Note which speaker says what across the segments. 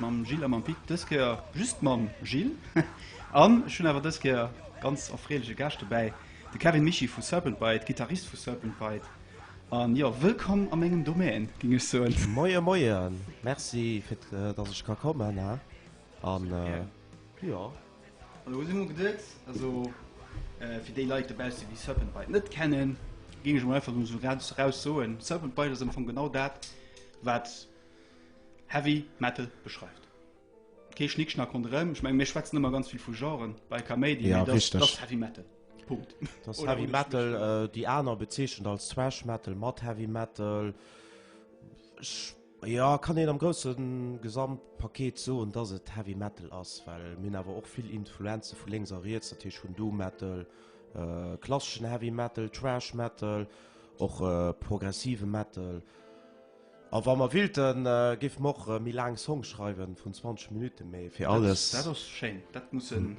Speaker 1: mam Gilles a mam Pit, dës Kéier just mam Gilles. An ech hunn awer dës Kéier ganz erfreelege Gaascht dobäi, de Kevin Mischy vu Serpent Bite, Gittarist vu Serpent Bite. An jo, wëllkomm a mengem Domaine, géing ech soen. Moien, moien,
Speaker 2: merci fir dass ech ka kommen he an jo. An elo
Speaker 1: si mer geduet, also fir déi Leit dobausse déi Serpent Bite net kennen, géing ech emol einfach emol esou grad eraus soen, Serpent Bite ass am Fong genau dat wat, Heavy Metal beschreift kee Schnickschnack ronderëm. Ech meng, mir schwätzen ëmmer ganz vill vu Genren bei Kaméidi, mee dat ass Heavy
Speaker 2: Metal.
Speaker 1: Punkt. Dat ass Heavy Metal.
Speaker 2: Déi aner bezeechent als Thrash Metal mat Heavy Metal. Jo, kann een am grousse Gesamtpaket soen, dass et Heavy Metal ass, well mir hunn awer och vill Influenze vu lénks a riets, dat heescht vun Doom Metal, klasseschen Heavy Metal, Thrash Metal, och progressive Metal. A wa mer willten, géife mer och méi laang Songs schreiwen, vun 20 Minutten, mee fir alles. Dat ass schéin, dat
Speaker 1: muss en.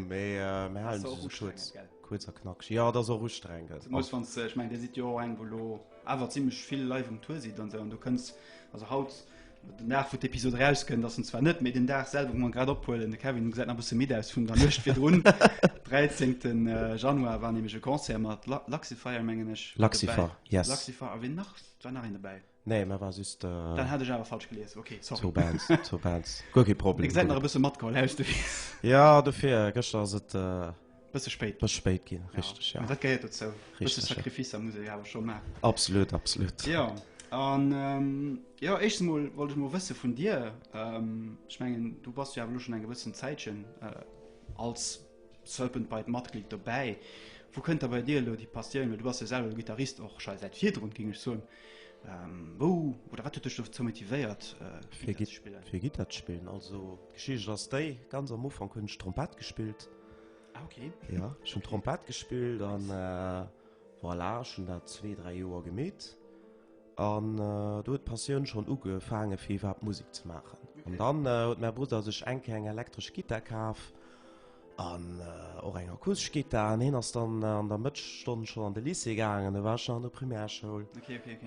Speaker 1: Mee mir
Speaker 2: halen se esou kuerz,
Speaker 1: kuerz
Speaker 2: a
Speaker 1: knackeg. Jo, et
Speaker 2: ass och ustrengend. Zemoos wann s de, ech mengen
Speaker 1: Dir sidd jo och eng wou elo awer zimlech vill live um Tour sidd an esou an do kënns, also haut, den Dag wou d'Episod erauskënnt ass en zwar net, mee den Dag selwer wou mer en grad ophuelen, de Kevin gesäit nach e bësse midd aus vun der Nuecht virdrun, 13 Januar war nämlech e Concert mat Luxify mengen ech, mat dobäi. Luxify, yes.
Speaker 2: Luxify a ween nach?
Speaker 1: War nach een dobäi? Nee, mä war just.
Speaker 2: Dann hat ech awer falsch
Speaker 1: gelies. Ok, sorry. Zwou Bands, zwou Bands.
Speaker 2: Guer kee Problem. Ech säit nach e bësse matgeholl
Speaker 1: aus de Witz. Ja, dofir,
Speaker 2: gëschter ass et. Bësse spéit.
Speaker 1: Bësse spéit ginn, richteg,
Speaker 2: ja. Mä dat gehéiert dozou. Richteg, ja.
Speaker 1: Bësse Sacrificer
Speaker 2: muss ee jo awer
Speaker 1: scho maachen. Absolut, absolut.
Speaker 2: Jo,
Speaker 1: an, jo, éischtens emol wollt ech emol wësse vun dir, ech mengen, du bass jo awer elo schonn eng gewëssen Zäitchen als. Serpent Bite Matglied dobäi. Wou kënnt da bei dir elo déi Passioun oder du bass jo selwer de Gittarist och schei säit virdrun, géing ech soen. Ähm, wou oder wat huet dech dozou motivéiert, äh, fir Gitt spillen?
Speaker 2: Fir Gitter ze spillen. Also d'Geschicht ass déi, ganz am Ufank hunn ech Trompett gespillt. Ah, okay.
Speaker 1: Ja, ech hunn
Speaker 2: Trompett gespillt an äh, voilà, ech hunn dat zwee, dräi Joer gemeet. An do huet d'Passioun schonn ugefaangen, fir iwwerhaapt Musek ze maachen. An dann huet mäi Brudder sech eng Kéier eng elektresch Gittar kaf an och eng akustesch Gittar. An hien ass dann an der Mëttesstonn schonn an de Lycée gaangen, do war ech nach an der Primärschoul.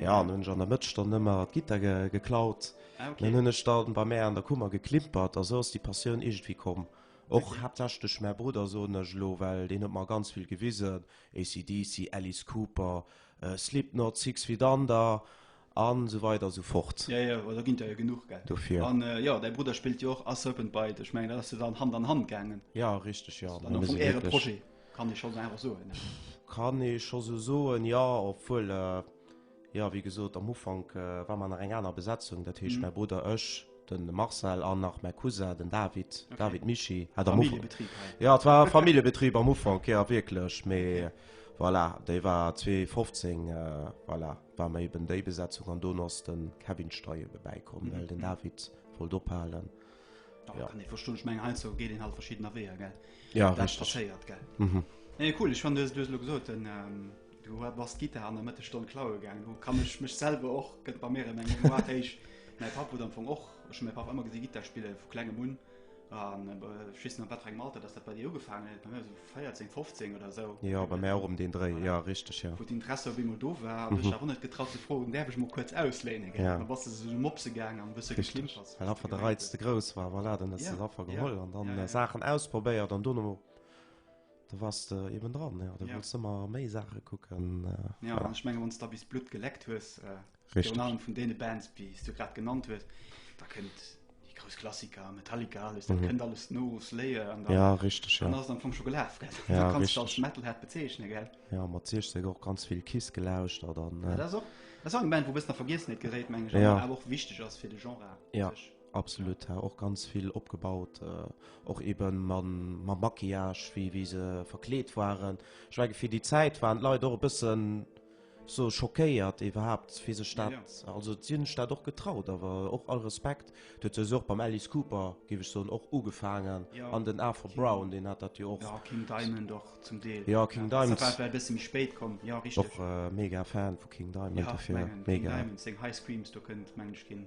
Speaker 2: Jo, an
Speaker 1: hunn ech an der
Speaker 2: Mëttesstonn ëmmer d'Gittar geklaut. Dunn hunn ech
Speaker 1: dann bei mär
Speaker 2: an der Kummer geklimpert a sou ass déi Passioun iergendwéi komm. Och haaptsächlech duerch mäi Brudder, soen ech elo, well deen huet mer ganz vill gewisen, AC/DC, Alice Cooper, Slipknot, Six Feet Under a sou weider a sou fort. Jo, jo, do ginn der jo
Speaker 1: genuch, gell. Dofir. An jo, däi
Speaker 2: Brudder
Speaker 1: spillt jo och A Serpent Bite. Ech mengen, dat ass jo dann Hand an Hand gaangen. Ja, richteg, jo. An am Fong
Speaker 2: äre Projet,
Speaker 1: kann ee scho sou einfach soen, ne? Kann ee scho
Speaker 2: sou soen, jo. Obwuel, jo, wéi gesot, am Ufank war mer nach eng aner Besetzung, dat heescht, mäi Brudder, ech. den Marcel an nach mein Cousin den David okay. David Michi hat am Ufang
Speaker 1: ja et war
Speaker 2: Familienbetrieb am Ufang ja wirklich me okay. voilà de war 2015 äh, voilà war mir eben de Besetzung an Donos den Kevin Steie vorbeikommen mhm. den David voll dohalen ja. kann
Speaker 1: ich verstehen ich mein halt so geht den halt verschiedener Wege gell ja das richtig. passiert
Speaker 2: gell
Speaker 1: mhm. nee, cool ich fand das, das gesagt, denn, ähm, Du war bass d'Gitar an der Mëttesstonn klaue gaangen. Du kann ech mech selwer och gëtt bei mir eng Moatéich. Mäi Papp huet am Fong och ech hun mäi Papp ëmmer gesi Gitar spille vu klengem un. An ech weess net, wat fir engem Alter datt dat bei dir ugefaangen huet. Bei mir sou 14, 15 oder esou. Jo, bei mär och ëm deen Dréi,
Speaker 2: jo, richteg, jo. Wou d'Interesse op eemol
Speaker 1: do
Speaker 2: war.
Speaker 1: An ech awer net getraut ze froen, däerf ech mol kuerz ausléinen, gell. An da bass de sou zu de
Speaker 2: Mopse
Speaker 1: gaangen an e bësse geklimpert. Richteg, well affer de Reiz ze grouss
Speaker 2: war. Voilà, dann hues de se affer geholl an dann Saachen ausprobéiert
Speaker 1: an
Speaker 2: dono. Do wars de eben dran, jo. Du wolls ëmmer méi Saache kucken. Jo, an ech menge wann
Speaker 1: s da bis d'Blutt geleckt hues, virun allem vun
Speaker 2: deene Bands,
Speaker 1: déi s du grad genannt hues, da kënnt déi grouss Klassiker, Metallica, alles, dat kënnt alles no, Slayer, an dann
Speaker 2: ass et am Fong scho gelaf.
Speaker 1: Da kanns de als
Speaker 2: Metalhead
Speaker 1: bezeechne, gell? Jo, mat 16 och
Speaker 2: ganz vill Kiss gelauschtert. Dat ass och eng
Speaker 1: Band, wou e bëssen a Vergiessenheet geréit, meng ech, awer och wichteg ass
Speaker 2: fir de
Speaker 1: Genre u sech. Absolut
Speaker 2: ha och ganz vill opgebaut äh, och eben man ma Maquillage wie wie se verkleet waren schwege fir die Zeit waren Lei och bëssen so schockéiert iwwerhaupt fir se staat ja. also sinn staat och getraut awer och all Respekt dat se och beim Alice Cooper giwech so och ugefagen ja. an den Arthur King. Brown den hat dat jo och ja, King Diamond doch
Speaker 1: zum Deel ja King ja. Diamond
Speaker 2: bisschen spéit
Speaker 1: kom ja, och äh, mega Fan
Speaker 2: vu King Diamond ja, mega King Diamond,
Speaker 1: High
Speaker 2: Screams
Speaker 1: du kënnt mensch ginn.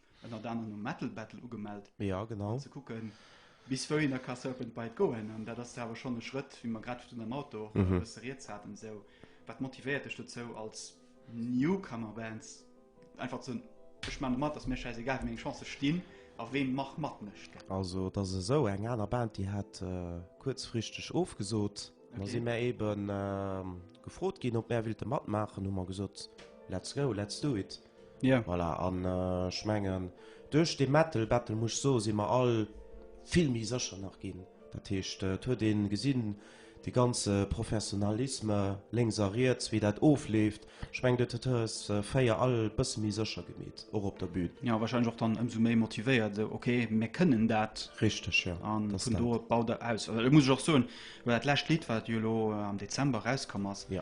Speaker 1: ënnert anerem um Metal Battle ugemellt, ja, genau. fir ze kucken, bis wouhin da ka Serpent Bite goen. An dat ass da awer schonn e Schrëtt, wéi mer grad virun am Auto och e mhm. bësse rieds haten. Esou, wat motivéiert dech dozou als Newcomer-Bands einfach ze Ech man mat ass mir scheiß egal wie eng Chance stinn a ween mach mat mecht. Also dat se esou eng
Speaker 2: aner Band, déi hat äh, kurzfristeg ofgesot. Okay. Da si mir eben äh, gefrot ginn, op Mer willte matmaachen, hu mer gesot let's go, let's do it. Yeah. Voilà, an
Speaker 1: ech
Speaker 2: äh, mengen duerch de Metal Battle muss so si mer all vill méi sécher nach ginn. Dat heescht äh, huet de gesinn de ganze Professionalisme lengs a riets, wéi dat ofleeft. Ech meng dat hues äh, féier all bësse méi sécher gemet och op der Bühn. Ja wahrscheinlich och dann ëmsou
Speaker 1: méi motivéiert so, okay mir kënnen dat richtig ja. an
Speaker 2: vun do baut
Speaker 1: der aus. Also, muss ich och soen, well dat läscht Lied wat Jolo äh, am Dezember rauskommers. Ja.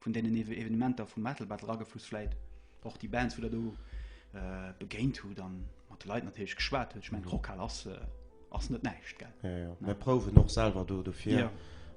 Speaker 1: vun deenen Evenementer vum Metal Battle agefluss, vläit och déi Bands, wou der do äh, begéint hutt an mat de Leit natierlech geschwat huet. Ich mein, Rockhal ass, äh, ass net näischt, gell? Ja, ja. Mir prouwen och
Speaker 2: selwer do dofir. Ja.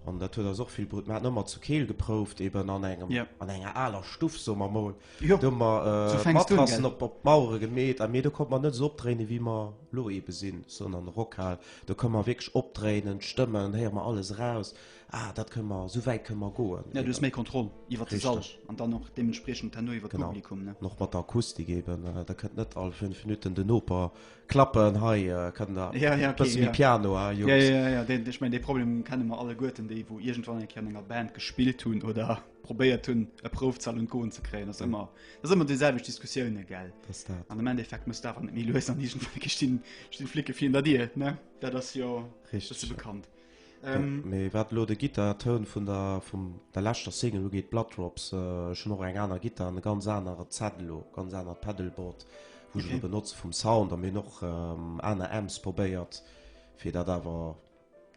Speaker 2: An dat huet ass och vill Brut. Mer haten ëmmer zu Keel geprouft, eben an engem, Ja. an enger aler Stuff, soe mer mol. Jo, Do hu mer so äh, fänks du un, Matrassen gell? op, op d'Mauere gemeet, a mee do konnt mer net esou opdréinen, wéi mer lo ebe sinn, sondern Rockhal, do ka mer wierklech opdréinen, d'Stëmmen, héiere mer alles eraus. Ah, dat kënne mer, esou wäit kënne mer goen. Ja, du hues méi Kontroll
Speaker 1: iwwert de Sall an dann och deementspriechend herno iwwert de Publikum, ne? Genau, an och mat der Akustik eben,
Speaker 2: da kënnt net all fënnef Minutten den Noper klappen, Hei kënnt der e bësse méi Piano, ha, Jungs. Ja, ja, ja, ja, ech
Speaker 1: mengen, dee Problem kenne mer alleguerten, déi wou iergendwann eng Kéier an enger Band gespillt hunn oder probéiert hunn, e Proufzal un d'Goen ze kréien. Dat ass ëmmer, dat ass ëmmer déi selwecht Diskussioune, gell? Dat ass dat. An am Endeffekt muss dat awer net méi lues an iergendwou sti Flicke virun der Dier, ne? Dat ass jo e bësse bekannt. Mee
Speaker 2: wat elo de Gittartoun vun der leschter Single ugeet, Blood Drops, ech hunn och eng aner Gittar an e ganz anere Set elo, e ganz anert Pedalboard, wou ech elo benotze vum Sound her. Mir hunn och aner Amps probéiert, fir dat awer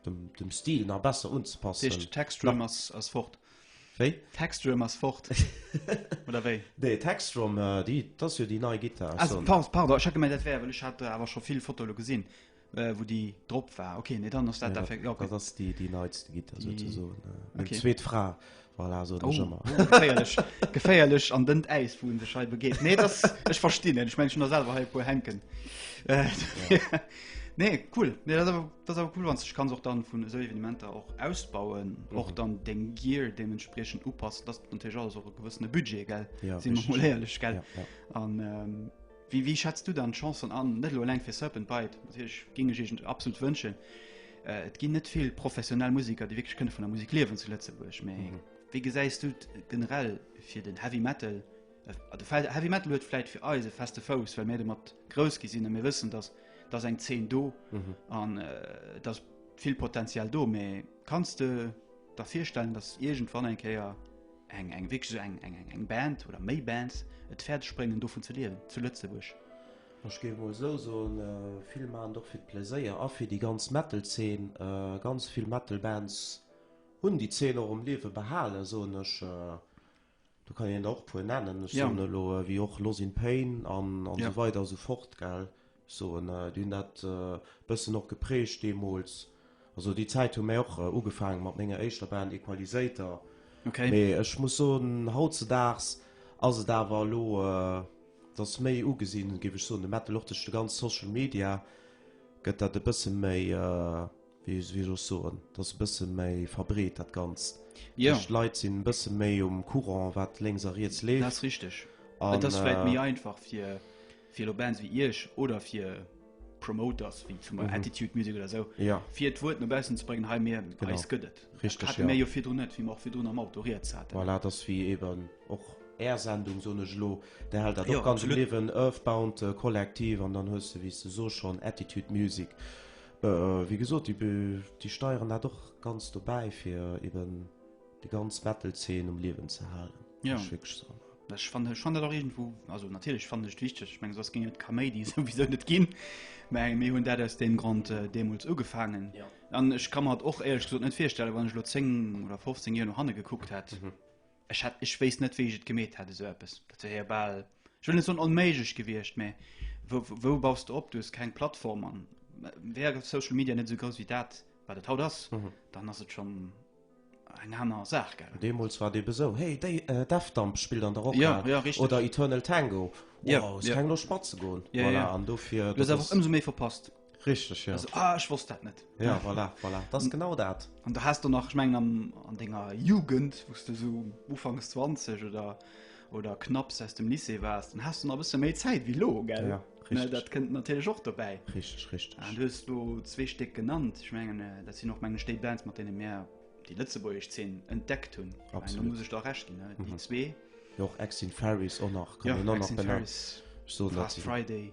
Speaker 2: dem Stil nach besser unzepassen. Dat heescht, d'Texdrum ass
Speaker 1: fort? Wéi? D'Texdrum ass fort, oder wéi? Nee, d'Texdrum,
Speaker 2: dat ass jo déi nei Gittar. Ah, pardon, ech hat gemengt,
Speaker 1: dat wär, well ech hat awer scho vill Fotoe elo gesinn. Äh, wo die drop war okay nee, dann ja, dat, ja, okay. das die die neits
Speaker 2: die, äh, okay. zweet fra voilà, so oh, oh, geféierlech
Speaker 1: geféierlech an den eis wo de schei begeet nee das ech verstehen ich mengen der selber halt wo henken äh, ja. nee cool nee das aber das aber cool wann ich kann auch dann von so evenementer auch ausbauen mhm. auch dann den gear dementsprechend upasst das und so gewissene budget gell ja, sie herrlich gell ja, ja. an ähm, Wéi wéi schätzt du dann d'Chancen an, net elo eleng fir Serpent Bite, natierlech géing ech Iech absolut wënschen, et ginn net vill professionell Musiker, déi wierklech kënne vun der Musik liewen zu Lëtzebuerg, mä wéi gesäis du et generell fir den Heavy Metal? De Heavy Metal huet vläit fir eis e feste Fouss, well mir domat grouss gi sinn a mir wëssen, datt datt eng Zeen do an datt vill Potenzial do, mä. Kanns de der virstellen, dass iergendwann eng Kéier eng eng wierklech esou eng eng eng Band oder méi Bands et fäerdeg bréngen dovun ze liewen zu Lëtzebuerg? Ech géif emol esou
Speaker 2: soen, vill maachen et och fir d'Pläséier a fir déi ganz Metal-Zeen. Ganz vill Metal-Bands hunn déi Zeen och um Liewe behalen, soen ech. Do kann een der och puer nennen, ech soen elo wéi och Loss in Pain an esou weider esou fort gell. Ech soen déi hunn dat e bëssen och geprägt deemools. Also déi Zäit hu mäi och ugefaange mat menger éischter Band Equalisator. Mee ech muss soen hautzedaags ass et awer elo et ass méi ugesinn géif ech soen de Metal och duerch de ganz Social Media gëtt dat e bësse méi. Wéi soll ech soen, et ass e bësse méi verbreet, dat Ganzt. Jo. D'Leit sinn e bësse méi um Courant, wat lénks a riets leeft. Dat ass richteg.
Speaker 1: Et ass vläicht méi einfach fir, fir elo Bands wéi Iech oder fir Promoters wéi zum Beispill Attitude Music oder esou, fir d'Wuert no baussen ze bréngen, hei mir, bei eis gëtt et. Richteg, jo. Hate
Speaker 2: mir jo
Speaker 1: virdrun net, wéi
Speaker 2: mer och
Speaker 1: virdrun am Auto
Speaker 2: riets
Speaker 1: haten. Voilà, et ass
Speaker 2: wéi
Speaker 1: eeben
Speaker 2: och
Speaker 1: Är
Speaker 2: Sendung, soen ech elo, Där hält dat och ganz am Liewen, Earthbound Kollektiv, an dann hues de, wéi s de soss, schonn Attitude Music. Wéi gesot, déi steieren dat och ganz do bäi, fir eben déi ganz Metal-Zeen um Liewen ze halen. Ja. Muss ech wierklech
Speaker 1: soen.
Speaker 2: Ech fannen, ech fannen dat och
Speaker 1: iergendwou, also natierlech fannen ech et wichteg, ech menge soss géing et d'Kaméidi souwisou net ginn, mä mir hunn dat aus deem Grond deemools ugefaangen. Ja. An ech ka mer
Speaker 2: et och,
Speaker 1: éierlech gesot, net virstellen, wann ech elo 10 oder 15 Joer no hanne gekuckt hätt, Ech hätt, ech wéisst net, wéi ech et gemeet hätt, esou eppes. Dat wär jo bal, ech wëll net soen onméiglech gewiescht, mä wou, wou baus de op? Du hues keng Plattform an wär Social Media net esou grouss wéi dat, wat et haut ass, dann ass et schonn eng aner Saach, gell? Deemools war et ebe sou, Hey,
Speaker 2: déi Defdump spillt an der Rockhal. Ja, ja, richtig. Oder Eternal
Speaker 1: Tango.
Speaker 2: Wow, hues keng
Speaker 1: Loscht
Speaker 2: matzegoen? Voilà, an dofir.
Speaker 1: Du
Speaker 2: hues
Speaker 1: awer och
Speaker 2: ëmsou méi verpasst.
Speaker 1: Richtig, ja. Also,
Speaker 2: ah, ich wusste das
Speaker 1: nicht. Ja, voilà, voilà.
Speaker 2: Das ist genau das. Und da hast du noch, ich meine,
Speaker 1: an, an deiner Jugend, wo du so ufangs 20 oder, oder knapps aus dem Lycée warst, dann hast du noch ein bisschen mehr Zeit wie lo, gell? Ja, richtig. Ne, das kommt
Speaker 2: natürlich
Speaker 1: auch
Speaker 2: dabei.
Speaker 1: Richtig, richtig. Und du
Speaker 2: hast du
Speaker 1: zwei Stück genannt. Ich meine, das sind auch meine State Bands, mit denen wir die Lützeburgische Szene entdeckt haben. Absolut. Da muss ich da recht geben,
Speaker 2: ne?
Speaker 1: Die mhm. zwei. Ja, auch Exit
Speaker 2: Ferries auch noch. Kann ja, Exit Ferries.
Speaker 1: So
Speaker 2: Last
Speaker 1: Friday.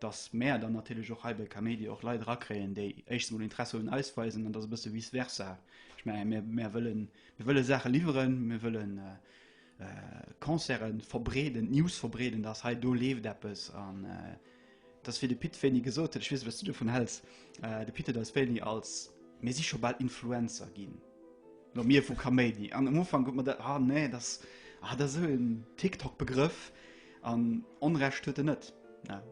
Speaker 1: dass mäer dann natierlech och hei bei Kaméidi och Leit erakréien, déi éischtens emol Interesse un eis weisen an dass e bësse vice versa. Ech menge mir, mir wëllen, mir wëlle Saache liwweren, mir wëllen äh, äh, Concerten verbreeden, d'News verbreeden, dass hei do leeft eppes an äh, dass fir de Pit wéini gesot huet, ech weess, wat du dovun häls, äh, de Pit huet eis wéini als mir si scho bal Influencer ginn. No mir vu Kaméidi. An am Ufang gutt mer dat, ah nee, dass, ah, dat ass esou en TikTok-Begrëff. An Onrecht huet en net, ne?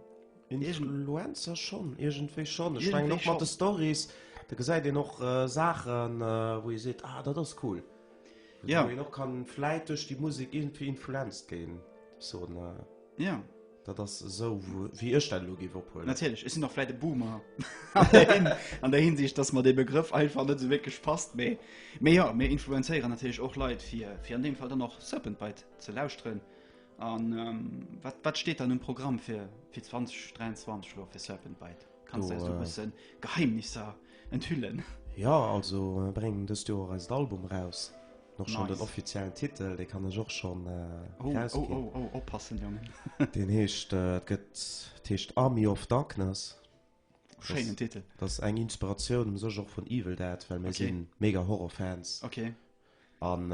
Speaker 1: Influencer
Speaker 2: schonn, iergendwéi schonn. Ech mengen och mat de Stories, do gesäit een och Saachen, wou ee seet, ah dat ass cool. Wou een och
Speaker 1: kann
Speaker 2: vläit duerch déi Musek iergendwéi influenced ginn, soen,
Speaker 1: dat ass esou
Speaker 2: wéi ech dat elo géif ophuelen. Natierlech, ech sinn och
Speaker 1: vläit e Boomer an där Hinsicht, datt mer dee Begrëff einfach net esou wierklech passt. Mee, mee jo, mir influenzéieren natierlech och Leit, fir an deem Fall dann och Serpentbite ze lauschteren. An wat steet an um Programm fir 2023 lo fir Serpent Bite? Kanns du eis do e bëssen Geheimnisser enthüllen? Jo, also
Speaker 2: mir bréngen dëst Joer eist Album eraus. Nice. Och schonn den offiziellen Titel, dee kann ech och schonn erausginn. Oh, oh, oh,
Speaker 1: oh, oppassen, Jongen. Deen heescht,
Speaker 2: et gëtt, d'heescht Army of Darkness. Schéinen
Speaker 1: Titel. Dat ass eng Inspiratioun
Speaker 2: um sech och vun Evil Dead, well mir si mega
Speaker 1: Horrorfans.
Speaker 2: Okay.
Speaker 1: An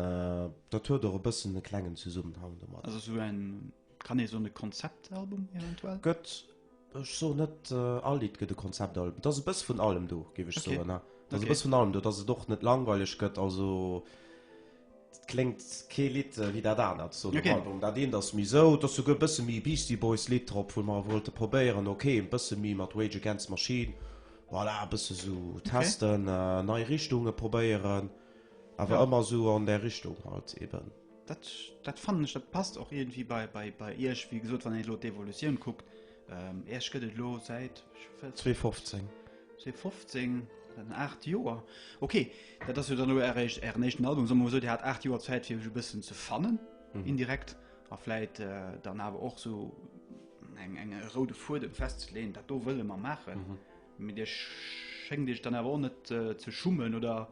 Speaker 2: dat huet och e bëssen e klengen Zesummenhang domat. Also esou en,
Speaker 1: kann ee soen, e Konzeptalbum eventuell? Gëtt,
Speaker 2: ech soen net all Lidd gëtt e Konzeptalbum. Et ass e bësse vun allem do, géif ech soen. Et ass e bësse vun
Speaker 1: allem
Speaker 2: do, dass et och net langweileg gëtt. Also Dat kléngt kee Lidd wéi dat anert sou nom Album. Dat eent ass méi
Speaker 1: sou,
Speaker 2: et ass souguer e bësse méi Beastie Boys Lidd drop, wou mer wollte probéieren, ok, e bësse méi mat Rage Against Machine, voilà, e bësse sou testen, nei Richtunge probéieren, awer ëmmer sou an där
Speaker 1: Richtung
Speaker 2: halt eben. Dat
Speaker 1: fannen ech, dat passt och iergendwéi bei Iech, wéi gesot, wann een elo d'Evolutioun kuckt. Ähm, Erst gëtt et lo säit
Speaker 2: 2015. 2015,
Speaker 1: dann 8 Joer. Okay, dat ass jo dann lo eréischt Ären éischten Album. Soe mer sou, Dir hat 8 Joer Zäit fir iech e bëssen ze fannen, mhm. indirekt a vläit äh, dann awer och so eng eng roude Fuedem festzeleen, dat do wëlle mer maachen. Mhm. Mit Dir schéngt Iech dann awer och net äh, ze schummen oder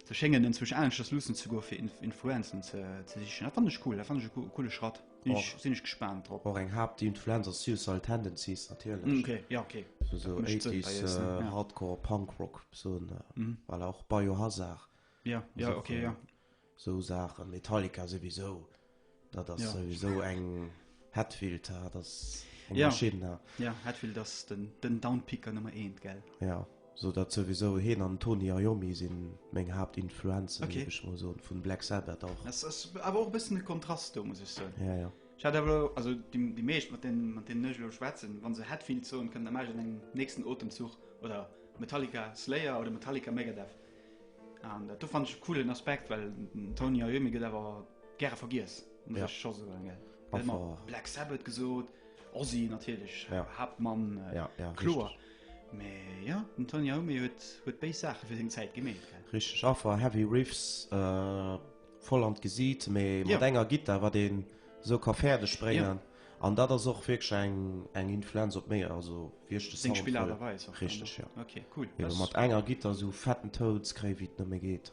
Speaker 1: ze schéngen enzwech aneschters luussen ze goen, fir Inf Influenzen ze, ze sichen. Dat fand ech cool, dat fand ech e coole Schratt. Ech sinn ech gespaant drop. Och eng Haap déi un d'Fluenz
Speaker 2: ass Suicidal Tendencies natierlech. Ok, ja ok.
Speaker 1: Esou 80s Hardcore Punk Rock
Speaker 2: besoen well och Biohazard. Ja, ja ok,
Speaker 1: ja. Esou Saachen,
Speaker 2: Metallica souwisou, dat ass souwisou eng Hetfield, dat ass eng Maschinn. Ja, ja
Speaker 1: Hetfield
Speaker 2: ass
Speaker 1: den Downpicker Nummer eent, gell. Ja. So dat
Speaker 2: souwisou, heen an Tony Iommi sin meng Haapt Influenzen okay. géif ech mol soen, vun
Speaker 1: Black
Speaker 2: Sabbath och. Das ass awer och e bëssen
Speaker 1: de Kontrast do muss ech soen. Ja, ja. Ech hat awer elo,
Speaker 2: also
Speaker 1: déi, déi meescht mat den, mat deenen ech elo schwätzen, wann se Hetfield soen, kënnt am Agen engem nächsten Otemzuch oder Metallica, Slayer oder Metallica, Megadeth. An dat do fand ech e coolen Aspekt, well den Tony Iommi gëtt awer gäre vergiess, muss Ja. ech scho soen, gell. Gëtt Einfach- ëmmer Black Sabbath gesot, Ozzy natierlech, Ja. Haaptmann,
Speaker 2: äh, Ja,
Speaker 1: ja, kloer.
Speaker 2: richtig.
Speaker 1: Mä jo, den Tony Iommi huet huet béis Saache fir seng Zäit gemeet, gell? Richteg, affer heavy
Speaker 2: riffs, voll an d'Gesiit, mä mat enger Gittar, wat een esou ka fäerdeg bréngen. An dat ass och wierklech eng eng Influenz op méi, also wéi ech de Sound huelen.
Speaker 1: Richteg, jo.
Speaker 2: Mat
Speaker 1: enger Gittar
Speaker 2: esou fetten Tounskréi, wéi et nëmme geet.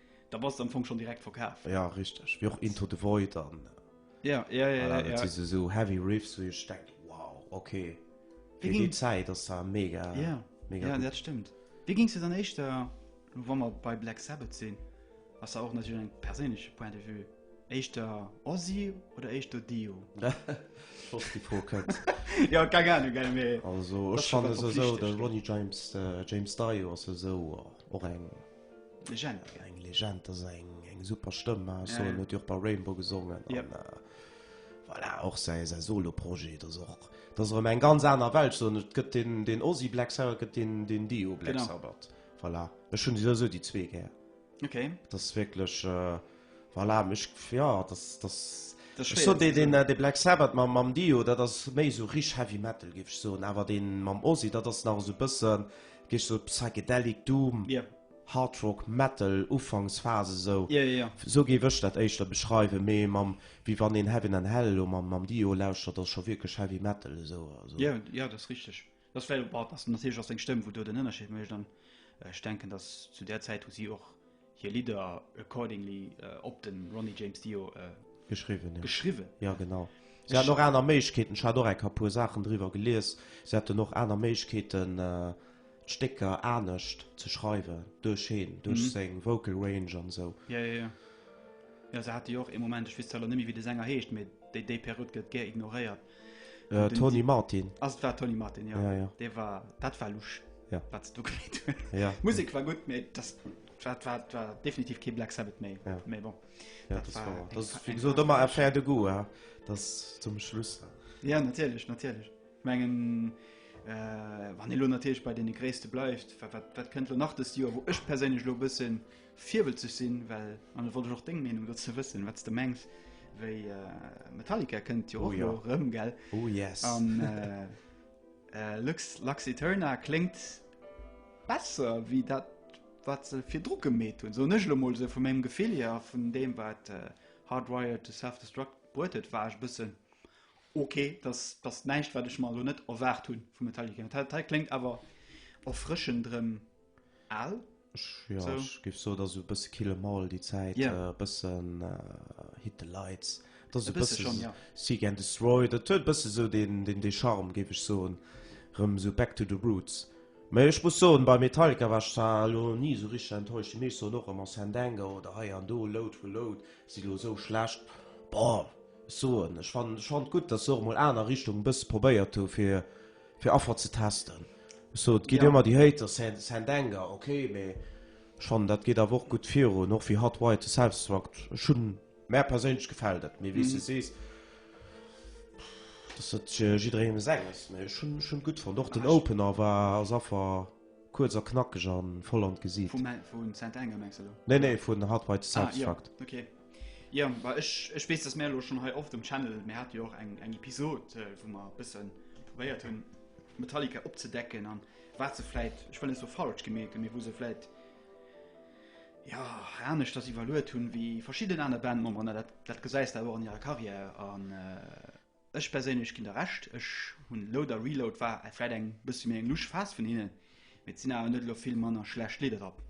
Speaker 1: Da bass de am Fong schon direkt verkaf. Ja richteg, wéi och
Speaker 2: Into the Void an. Ja, ja, ja, ja, ja.
Speaker 1: Dat si sou
Speaker 2: heavy Riffs wou ech denken, wow, ok, fir déi Zäit ass dat mega, mega gutt. Ja, dat stëmmt.
Speaker 1: Wéi
Speaker 2: gings
Speaker 1: de dann éischter, lo wa mer bei Black Sabbath sinn, ass da och natierlech eng perséinlech Point de Vue, éischter Ozzy oder éischter Dio? Flott
Speaker 2: déi Fro kënnt. Jo, keng Anung,
Speaker 1: eng mee. Also ech fannen esou
Speaker 2: de
Speaker 1: Ronnie
Speaker 2: James, James Dio ass esou och eng. Legend
Speaker 1: ja, eng Legend
Speaker 2: ass eng eng super Stëmm ja, so, ja. huet bei Rainbow
Speaker 1: gesongen
Speaker 2: ja. und, äh, voilà, och se se soloprojet das och das rem eng ganz aner Welt so gëtt den den Osi Black Sarah gëtt den den Dio Black Sabbath voilà. Ech hun se so déi zwee gär okay. das
Speaker 1: wirklich
Speaker 2: äh, Voilà, mech, ja, das, das, das ech so
Speaker 1: den, den, äh,
Speaker 2: den Black Sabbath mam, mam Dio, dat ass méi so rich Heavy Metal, géif ech soen, awer den mam Ozzy, dat ass nach esou bëssen, géif ech soen, Psychedelic Doom, yeah. Hard
Speaker 1: Rock,
Speaker 2: Metal, Ufanksphase esou. Yeah, yeah, yeah. Esou géif ech
Speaker 1: dat
Speaker 2: éischter beschreiwen, mee mam, wéi wann een Heaven and Hell elo mam, mam Dio lauschtert, ass scho wierklech Heavy Metal esou. Also. Yeah, ja, dat ass richteg.
Speaker 1: Dat ass vläicht, bon, dass natierlech ass seng Stëmm, wou do den Ënnerscheed mécht an ech denken, dass zu där Zäit hu si och hir Lidder accordingly op de Ronnie James Dio geschriwwen, jo.
Speaker 2: Geschriwwen, jo. Ja, genau. Si haten och aner Méiglechkeeten. Ech hat och eng ka puer Saachen driwwer gelies. Si haten och aner Méiglechkeeten, d'Stécker anescht ze schreiwen duerch heen, duerch seng Vocal Range an esou. Ja,
Speaker 1: ja, ja. Jo, se hate jo och ee Moment, ech weess zwar elo net méi, wéi de Sänger heescht, mee déi Périod gëtt gär ignoréiert, Äh, Tony
Speaker 2: Martin. Also, das war Tony Martin,
Speaker 1: ja. ja, ja. Der war, das
Speaker 2: war
Speaker 1: Lusch, ja. was du gemeint
Speaker 2: hast.
Speaker 1: Ja. Musik war
Speaker 2: gut, mehr,
Speaker 1: das, das, war, das war definitiv kein Black Sabbath mehr. Ja. Mehr bon.
Speaker 2: Ja, das,
Speaker 1: das war, war
Speaker 2: das, das, wie
Speaker 1: gesagt, immer
Speaker 2: ein Pferd de
Speaker 1: Goût,
Speaker 2: ja. das zum Schluss. Ja, natürlich,
Speaker 1: natürlich. Ich meine, äh, wenn ihr natürlich bei den Größten bleibt, was, was, was könnt ihr nach das Jahr, wo ich persönlich ein bisschen. Virwëtzeg sinn, well, an et wollt ech och deng Meenung dozou wëssen, wat s de mengs, wéi Metallica kënnt jo och elo erëm, gell?
Speaker 2: Oh
Speaker 1: yes! An
Speaker 2: Lux
Speaker 1: Lux Aeterna kléngt besser wéi dat, wat se virdru gemeet hunn, soen ech elo emol esou vu mengem Gefill hier. A vun deem, wat Hardwired to Self-Destruct bruet huet, war ech e bëssen ok. Dat ass näischt, wat ech mer elo net erwaart hu vu Metallica. Dat hei kléngt awer erfrëschend erëm Aal? Ja, so.
Speaker 2: ech géif soen,
Speaker 1: ass e bësse
Speaker 2: Kill 'Em All déi Zäit, yeah. e bëssen
Speaker 1: uh,
Speaker 2: Hit the Lights, dat ass e bësse schon, ja.
Speaker 1: Seek and Destroy,
Speaker 2: dat huet bësse sou den, den, den Charme, géif ech soen, rëm sou back to the roots. Mee ech muss soen, bei Metallica war ech zwar lo ni sou richteg enttäuscht, déi meescht soen och ëmmer Sandango oder hei an do, Load for Load, si lo sou schlecht. Boah, ech soen, ech fand, ech fand gutt, dass se och mol aner Richtungen e bësse probéiert hu fir Fir Affer ze testen. So, et geet ëmmer déi Hater,
Speaker 1: Saint
Speaker 2: Anger, ok, mee ech fannen dat geet awer och gutt virun, och wéi Hot White de Selfsdestruct. Ech hunn, mär perséinlech gefält et, mee wéi s de sees, dat ass et jidderéieme senges. Mee ech hunn et gutt fonnt. Och den Opener war als Affer kuerz a knackeg a voll an d'Gesiit. Vum Saint Anger
Speaker 1: mengs de elo? Nee, nee, vun Hot White de
Speaker 2: Selfsdestruct. Ah, jo, ok.
Speaker 1: Ja, war ech, ech wees dass mir lo schon hei oft um Channel mir hat jo och eng eng Episod äh, wo mer bëssen probéiert hunn Metallica opzedecken an wat se fläit ech well so falsch gemerkt mir wo se fläit ja hanesch dass iwwerluet hunn wéi verschidden aner Band man dat dat gesäis da wo an ihrer Karriär an äh, Ech perséinlech ginn der Recht. Ech hunn Load a Reload war vläit eng bëssi méi eng lusch Phas vun hinnen, mee et sinn awer net elo vill manner schlecht Lidder drop.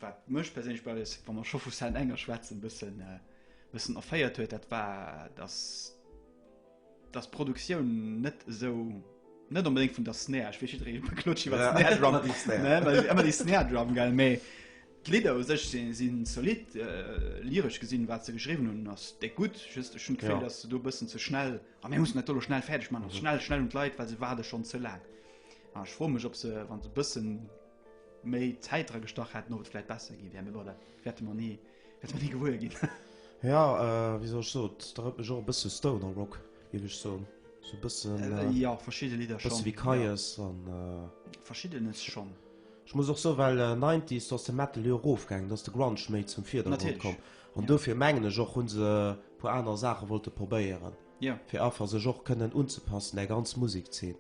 Speaker 1: Wat mech perséinlech bei des, wa mer scho vu Saint Anger schwätzen, bëssen bëssen erféiert huet, dat war dass dass d'Produktioun net esou, net onbedéngt vun der Snare, ech weess jiddweree klotzt iwwer d'Snare Drum,
Speaker 2: ëmmer déi Snare
Speaker 1: Drum gell, mee. D'Lidder u sech si zolidd, lyresch gesinn, wat se geschriwwen hunn, ass déck gutt. Just ech hunn d'Gefill, datt se do e bëssen ze schnell, a mir mussen dat do elo schnell fäerdeg maachen, also schnell, schnell un d'Leit, well se waarde schonn ze laang. A ech froe mech, ob se, wa se e bëssen méi Zäit dra gestach hätten, ob et vläicht besser gi wär. Mee bon, dat wäerte mer ni, wäerte mer ni gewuer ginn. Jo,
Speaker 2: wéi soll ech soen, et erënnert mech och e bësse Stoner Rock, géif ech soen. Sou e bëssen, jo, verschidde Lidder
Speaker 1: schonn, e bësse wéi Kyuss an.
Speaker 2: Verschiddenes
Speaker 1: schonn. Ech muss och soen, well
Speaker 2: Nineties, do ass de Metal jo erofgaangen, do ass de Grunge méi zum Virdergrond komm. An dofir mengen ech och, hu se e puer aner Saache wollte probéieren, fir einfach
Speaker 1: sech och
Speaker 2: kënnen unzepassen där ganz Musekzeen.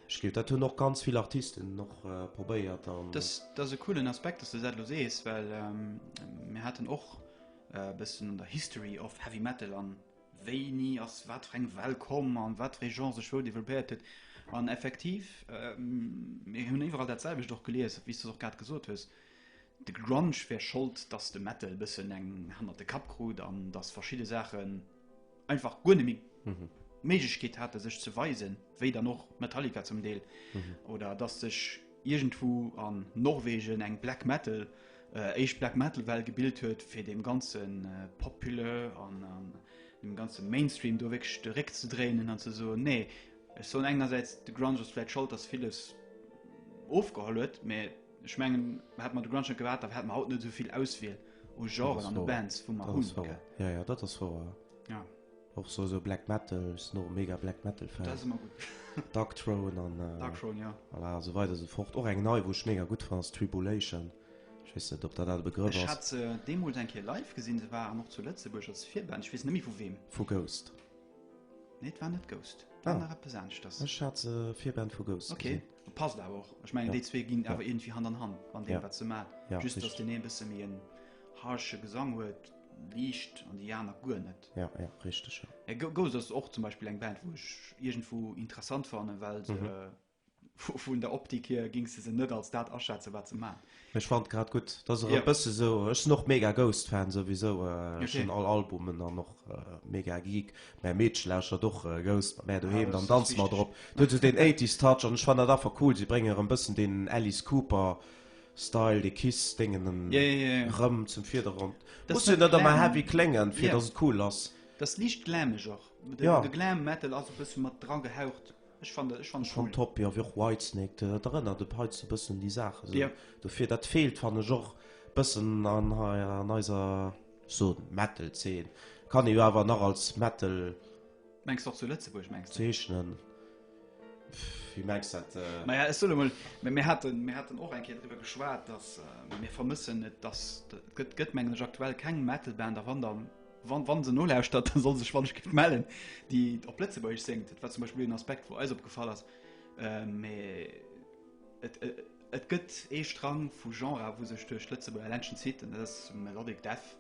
Speaker 2: Ech gleef, dat hunn och ganz vill Artisten och probéiert. Dës, dat ass e
Speaker 1: coolen Aspekt, datt s de dat elo sees, well mir haten och e bëssen an der History of Heavy Metal an wéini ass wat fir eng Well komm an wat d'Regent sech wou développéiert huet. An effektiv, mir hunn iwwerall dat selwecht och gelies, wéi s de och grad gesot hues, de Grunge wär Schold, dass de Metal e bëssen eng hannert de Kapp krut an dass verschidde Saachen einfach guer net méi d'Méiglechkeet hate sech ze weisen, wéi dann och Metallica zum Deel oder dass sech. iergendwou an Norwegen eng Black Metal, éischt Black Metal Well gebilt huet, fir deem ganze Populë an deem ganze Mainstream do wierklech de Réck ze dréinen an ze soen, nee, ech soen engersäits de Grunge ass vläit Schold, datt villes ofgeholl huet, mä ech mengen, hätte mer de Grunge net gehat, da hätte mer haut net esou vill Auswiel u Genren an u Bands, wou mer hunn. Jo, jo, dat
Speaker 2: ass wouer.
Speaker 1: Och sou sou Black
Speaker 2: Metal, ech sinn och e mega Black Metal Fan. Dat ass ëmmer gutt.
Speaker 1: Dark Throne an.
Speaker 2: Dark Throne, jo. Voilà,
Speaker 1: esou weider esou fort.
Speaker 2: Och eng nei, wou ech mega gutt fannen, ass Tribulation. Ech weess net, ob dat dat e Begrëff ass. Ech hat se deemools eng Kéier
Speaker 1: live gesinn. Se waren och zu Lëtzebuerg als Virband. Ech weess net méi vu weem. Vu Ghost.
Speaker 2: Nee,
Speaker 1: et war net Ghost. Et war nach eppes aneschters. Ech hat se Virband
Speaker 2: vu Ghost gesinn. Okay. Passt awer
Speaker 1: och. Ech mengen, déi zwee ginn awer iergendwéi Hand an Hand an deem, wat se maachen. Just, datt deen ee e bësse méi en harsche Gesang huet, liicht, an déi aner guer net. Ja, ja, richtig. Ja.
Speaker 2: Äh, Go- Ghost ass
Speaker 1: och zum Beispiel eng Band, wo ech irgendwo interessant fannen, well se Mhm. äh, vu- vun der Optik hier ging se se net als dat aschätzen, wat se man. Ech fand grad gut,
Speaker 2: dass er Ja. ja. bësse so ech sinn och mega Ghost Fan sowieso äh, okay. Okay. schon all Albumen an noch äh, mega Geek mä Meedch lauscher doch äh, Ghost mä doheem Ah, das dann ist danz mal wichtig. drop. Du huet so den 80s Touch an ech fand dat affer cool, si brénge erëm bëssen den Alice Cooper Style, de Kiss dengen en yeah, yeah, yeah. rëm zum Vidergrond. Muss jo net ëmmer heavy klengen, fir yeah. dass et cool ass. Das ist liicht glamig
Speaker 1: och. De, ja. de Glam Metal ass e bësse mat dra gehaucht. Ech fan ech fan schon cool. top ja,
Speaker 2: och Whitesnake dat erënnert de Peiz e bëssen déi Saache so. yeah. Dofir dat feelt fan ech och bëssen an haier an eiser so Metal zeen. Kann e jo awer nach als Metal. Mengst och
Speaker 1: zu Lëtzebuerg mengst du? Zeechnen.
Speaker 2: Wie merkst du das? Äh naja, ich soll mal,
Speaker 1: wir hatten, wir hatten auch ein Kind darüber geschwärzt, dass äh, wir vermissen nicht, dass, gibt, gibt man aktuell kein Metalband, aber dann, wann, wann sie nur lauschtert, dann soll sie sich wann ich melden, die auf Plätzeburg singt. Das war zum Beispiel ein Aspekt, wo alles aufgefallen ist. Äh, mais, et, et, et gibt einen Strang von Genre, wo sich durch Plätzeburg allein schon zieht, und das ist Melodic Death.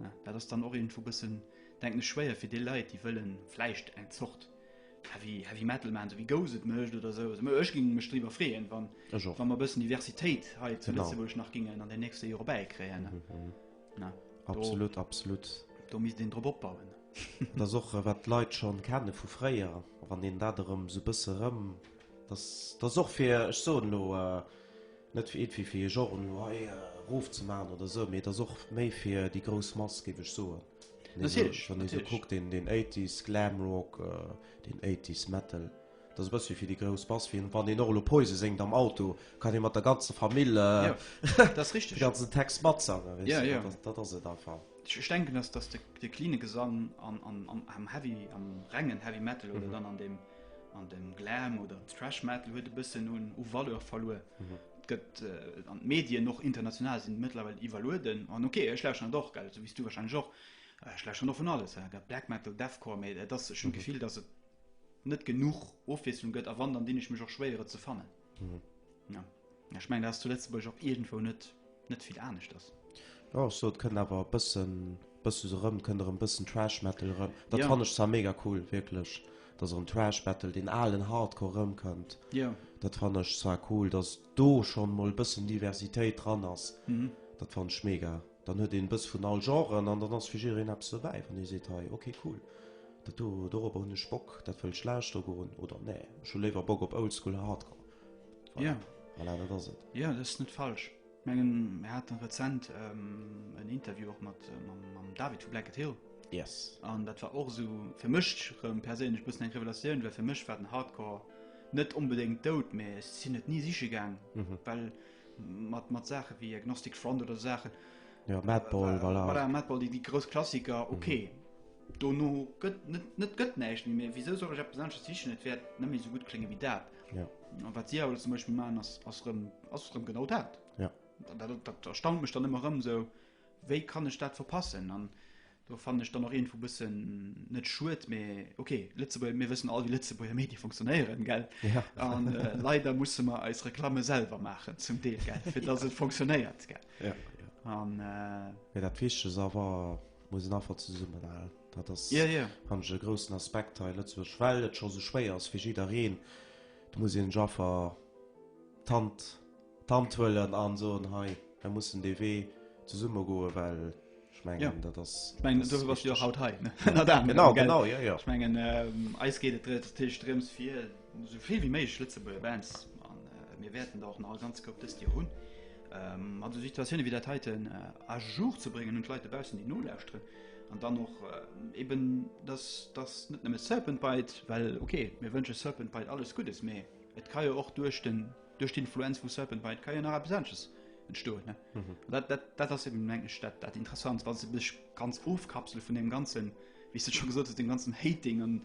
Speaker 1: Ja, dat ass dann och irgendwo bëssen, denken ech, schwéier fir déi Leit, déi wëllen vläicht eng Zort Heavy, Heavy Metal maachen, esou wéi Ghost et mécht oder esou. Also ech géing mech driwwer freeën, wann, wann mer e bëssen Diversitéit hei zu Lëtzebuerg nach géingen an den nächste Jore bäikréien. Mhm,
Speaker 2: mhm. Na, absolut, do, absolut.
Speaker 1: Do misst een drop opbauen. Dat ass och,
Speaker 2: äh, wat d'Leit scho kenne vu fréier, wann een dat erëm esou bësse rëm. Dat ass och fir, ech soen elo, äh, Net fir iergwéi fir ee Genre elo hei erof ze maachen oder esou, mee et ass och méi fir déi grouss Mass, géif ech soen. Natierlech, natierlech. Wann ee
Speaker 1: esou kuckt, deen,
Speaker 2: deen Eighties Glam Rock, deen Eighties Metal, dat ass e bëssche fir déi grouss Mass. Fir wann een och elo Poison séngt am Auto, kann ee mat der ganzer Famill de
Speaker 1: ganzen Text matsangen,
Speaker 2: weess de. Dat, dat ass
Speaker 1: et
Speaker 2: einfach. Ech denken, dass, dass
Speaker 1: de, de cleane Gesang an, an, am Heavy, am rengen Heavy Metal oder dann an deem. An den Glam oder Thrash Metal huet e bëssen un u Valeur verluer. Mhm. Gëtt äh, an d'Medien noch international sinn mëttlerweile iwwerlueden. An okay, ech lausche an doch gell, so wies du wahrscheinlich och. Äh, ech lausche noch vun alles. Äh, gell, Black Metal, Deathcore, méi äh, dat schon mhm. Gefill, dass et net genug Ofwieslung gëtt a wann, dann dinn ech mech och schwéiere ze fannen. Ech mengen dat ass zu Lëtzebuerg och iergendwou net net vill aneschters. Jo ech sot kënnt
Speaker 2: awer e bëssen bësse sou erëm kënnt erëm bëssen Trash Metal erëm. Dat fann ech zwar mega cool wierklech, datt erëm Trash Metal, deen alen Hardcore erëmkënnt. Dat fann
Speaker 1: ech zwar
Speaker 2: cool, datt do schonn emol e bëssen Diversitéit dran ass. Dat fann ech mega. Dann huet een bëss vun all Genren an dann ass fir jiddereen eppes dobäi. Wann ee seet, hei, ok, cool, dat do, dorobber hunn ech Bock, dat wëll ech lauschteren goen, oder, nee, ech hu léiwer Bock op Oldschool Hardcore. Voilà,
Speaker 1: voilà, dat ass
Speaker 2: et. Jo, dat ass net falsch.
Speaker 1: Ech mengen, mir haten rezent en Interview och mat, mam David vu Blanket Hill. Yes. An dat
Speaker 2: war och esou
Speaker 1: fir mech rëm perséinlech bëssen eng Revelatioun, well fir mech war den Hardcore net onbedéngt dout, mä ech sinn et ni siche gaang, well Mat, mat Saachen wéi Agnostic Front oder esou Saachen. Jo, Madball,
Speaker 2: voilà. Voilà, Madball, déi, déi
Speaker 1: grouss Klassiker, mhm. okay. Mhm. Dono gëtt net, net gëtt näischt méi méi. Wisou soll ech eppes anesches sichen? Et wäert net méi esou gutt klénge wéi dat. Ja. An wat si
Speaker 2: awer zum
Speaker 1: Beispiel maachen, ass, ass rëm, ass rëm genau dat. Ja. Dat, dat,
Speaker 2: dat erstaunt
Speaker 1: mech dann ëmmer rëm sou, wéi kann ech dat verpassen? An Do fannen ech dann och iergendwou bëssen, net schued, mee ok, Lëtzebuerger, mir wëssen all wéi Lëtzebuerger Medie funktionéieren, gell? An
Speaker 2: leider
Speaker 1: musse mer eis Reklamme selwer maachen, zum Deel, gell, fir datt et funktionéiert, gell? Ja, ja. An. Mee dat
Speaker 2: Wichtegst ass awer, muss een einfach zesummenhalen. Dat ass, fannen ech, e
Speaker 1: groussen
Speaker 2: Aspekt hei a Lëtzebuerg, well et scho esou schwéier ass fir jiddereen. Do muss een sech einfach d'Hand. d'Hand huelen an soen hei mer mussen dee Wee zesumme goen, well ech mengen dat ass, ech mengen
Speaker 1: dofir bass
Speaker 2: de jo och haut
Speaker 1: hei, ënner anerem, genau, genau,
Speaker 2: jo, jo,
Speaker 1: ech
Speaker 2: mengen
Speaker 1: eis geet et natierlech drëms fir esou vill wéi méiglech Lëtzebuerger Bands an mir wäerten der och nach e ganz Koup dëst Joer hunn mat esou Situatiounen wéi dat heiten à jour ze bréngen un d'Leit dobaussen déi nolauschteren an dann och eben dass dass net nëmme Serpent Bite, well okay mir wënsche Serpent Bite alles Guddes, mee et ka jo och duerch den. duerch d'Influenz vu Serpent Bite kann jo nach eppes anesches entstoen, ne? Mhm. Und dat, dat, dat ass eben, meng ech, dat, dat Interessant, wa se mech ganz ofkapsele vun dem Ganzen, wéi s du schon gesot hast, dem ganzen Hating an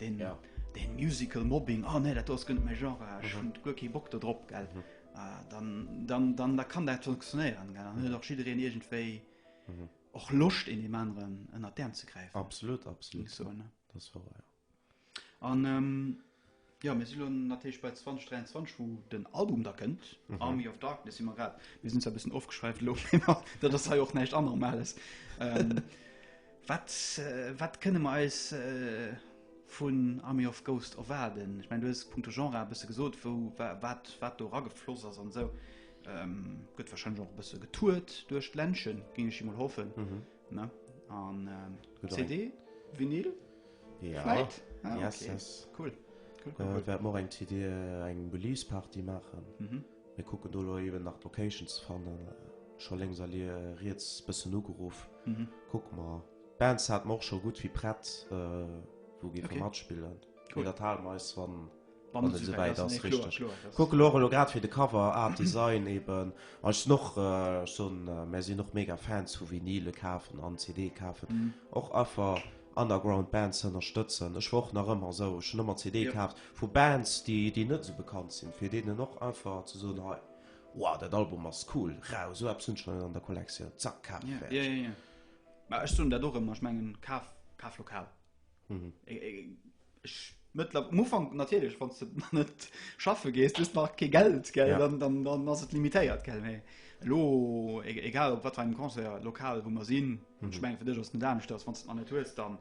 Speaker 1: den, Ja. den Musical Mobbing, oh ne, dat ass gënnt méi Genre, ah, ech hunn guer kee Bock do drop, gell? Ah, dann, dann, dann, da kann dat funktionéieren, gell? Dann huet och jiddereen iergendwéi och Loscht, een deem aneren ënner d'Äerm ze gräifen, Absolut, absolut. so,
Speaker 2: ne?
Speaker 1: Das war ja.
Speaker 2: An
Speaker 1: jo mir si lo natierlech bei 2023 wou den Album da kënnt, Army of Darkness si mer grad, mir sinn zwar e bëssen ofgeschwäift elo, mä dat ass hei och näischt Anormales. Wat, wat kënne mer eis vun Army of Ghost erwaarden? Ech mengen du hues et punkto Genre e bësse gesot, wou wat wat do eragefloss ass an esou. Gëtt warscheinlech och e bësse getourt duerch d'Ländche géing ech emol hoffen, ne? An CD, Vinyl? Ja. Fleit?
Speaker 2: Ah, okay. Yes, yes.
Speaker 1: Cool. Cool, cool, cool. Äh, wärt mor
Speaker 2: eng TD äh, eng Release-Party machen. Mhm. Mir kucken do lo eben nach d'Location ze fannen. Scho lengs all äh, riets bëssen ugeruff. Mhm. Kuck mal. Bands hat mor scho gut wie prett, äh, wo gi Cool. Okay. matspillen. Cool. Cool. Dat halen eis wann wann et souwäit ass, richteg. Kucken och elo grad fir de Cover Art Design eben an ech sinn och schonn, mär sinn och mega Fans vu Vinyle kafen an CD kafen, och einfach Underground Bands ze ënnerstëtzen. Ech war och nach ëmmer esou, ech hunn ëmmer CD kaaft vu Bands, déi déi net esou bekannt sinn, fir deenen och einfach ze soen, hei, wow, dat Album ass cool, rau, esou eppes hunn ech nach net an der Kollektioun, zack, kaaft, fäerdeg.
Speaker 1: Mä ech soen dat och ëmmer, ech mengen, kaf, kaf lokal. Mhm. Eng, eng, ech, mëttler, am Ufank natierlech, wann du net schaffe gees, hues nach kee Geld, gell, Ja. dann, dann, dann ass et limitéiert, gell, mee elo, e, egal op wat fir engem Concert, lokal, wou mer sinn, Mhm. ech mengen, fir dech ass et net anescht, dass wann du et nach net hues, dann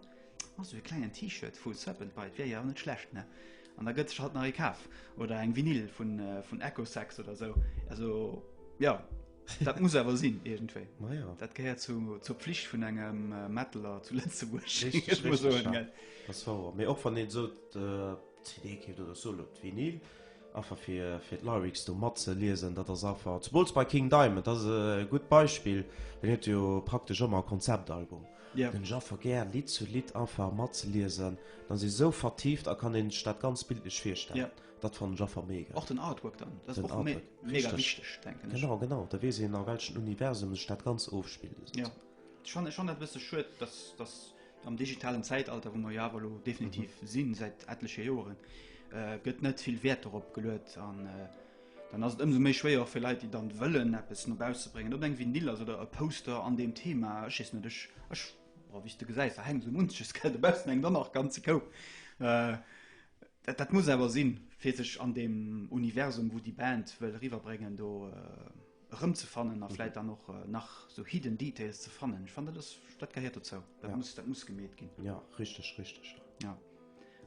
Speaker 1: ass esou e klengen T-Shirt vu Serpent Bite, wier jo och net schlecht, ne, an da gëtt sech halt nach ee kaf, oder eng Vinyl vun, äh, vun Echosex oder esou, also, jo. Dat muss awer sinn irgendwéi. Ma ja. Dat gehéiert zu, zur Pflicht vun engem äh, Mettler zu Lëtzebuerg. Richtig, Ich muss richtig, soen, ja. gell.
Speaker 2: Das war wahr. Mir och wann een so äh, CD keeft oder so lo d'Vinyl einfach fir fir d'Lyrics do mat ze liesen, dat ass einfach zum Beispiel bei King Diamond, dat ass e gutt Beispiel, den huet jo praktesch ëmmer e Konzeptalbum. Ja. Den ech einfach gär Lidd zu Lidd einfach matzeliesen, dann si sou vertieft a kann een sech dat ganz bildlech virstellen. Ja. Dat fan ech affer mega. Och den Artwork dann, dat
Speaker 1: ass och mega wichteg denken ech. Genau, genau, da weess een a welchen
Speaker 2: Universum sech dat ganz ofspillt. Jo, ech
Speaker 1: fannen dat e bësse schued, datt am digitalen Zäitalter, wou mer jo awer elo definitiv sinn, säit etleche Joren, gëtt net vill Wäert dorop geluet an dann ass et ëmsou méi schwéier och fir Leit, déi dann wëllen eppes no bausse bréngen, ob eng Vinyl ass oder e Poster an deem Thema, ech weess net, ech, ech, wéi s de gesäis, da hänkt esou munches, gell, dobaussen hänkt och nach ganz e Koup. Dat, dat muss awer sinn, fir sech an deem Universum, wou déi Band wëll eriwwerbréngen, do erëmzefannen a vläit dann och nach sou hidden details ze fannen. Ech fannen, dat ass, dat gehéiert dozou. Dat muss,
Speaker 2: dat
Speaker 1: muss gemeet ginn. Ja, richteg, richteg. Ja.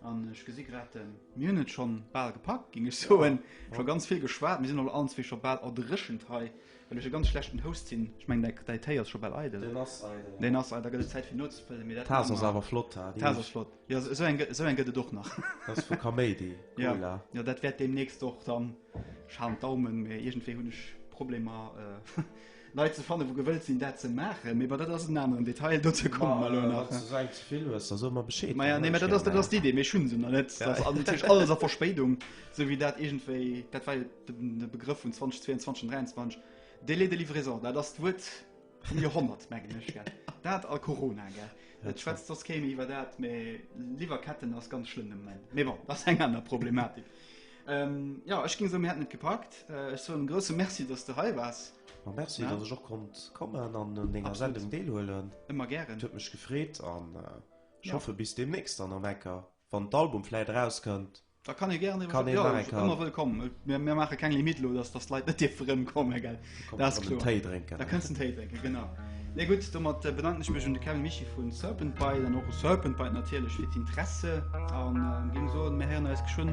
Speaker 1: An ech gesi grad, mir hunn et scho bal gepackt, géing ech soen. Scho ganz vill geschwat, mir sinn och allen zwee scho bal erdréchent hei Well ech e ganz schlechten Host sin. Ech mengen däi däi Téi ass scho bal eidel. Deen ass eidel, ja. Deen ass eidel, da gëtt et Zäit fir nozefëllen, mee dat maache mer. D'Taass ass awer flott ha.
Speaker 2: D'Taass ass flott, jo
Speaker 1: esou eng esou eng gëtt et och nach. Dat ass vu Kaméidi,
Speaker 2: Cola. Jo, jo dat
Speaker 1: wäert deemnächst och dann, ech halen d'Daumen, mee iergendwéi hunn ech Problemer Leit ze fannen wou gewëllt sinn dat ze maachen, mee bon dat ass en aneren Detail, dozou komme mer elo nach. Wann s du esou eng ze vill hues,
Speaker 2: da so mer Bescheed. Maja nee, dat ass dat ass
Speaker 1: d'Idee, mee ech hunn se nach net, dat ass alles a Verspéidung, esou wéi dat iergendwéi, dat war jo. De Begrëff vun 2022 an 2023, Délai de livraison, dat ass d'Wuert vum Joerhonnert, mengen ech, gell? Dat a Corona, gell? Et schwätzt soss keen méi iwwer dat, mä Liwwerketten ass ganz schlëmm de Moment. Mee bon, dat ass eng aner Problematik. Jo, ech géing soen, mir hätten et gepackt. Ech soen e grousse Merci, dass s de hei waars. Ma Merci, dass ech och
Speaker 2: konnt kommen an un denger Sendung deelhuelen. Ëmmer gären. Et huet mech
Speaker 1: gefreet
Speaker 2: an ech hoffe bis deemnächst dann am Ecker. Wann d'Album vläit erauskënnt, da kann ee gären kann
Speaker 1: een nach eng Karte. Ëmmer wëllkomm. Mir maache keng Limit elo, dass dass d'Leit net dierfe rëmkommen. Gell? Dat ass kloer. Téi drénken. Da kënnst den Téi
Speaker 2: drénken, genau.
Speaker 1: Nee, gutt, domat bedanken ech mech un de Kevin Mischie vu Serpent Bite an och u Serpent Bite natierlech fir d'Interesse a géing soen, mir héieren eis geschwënn.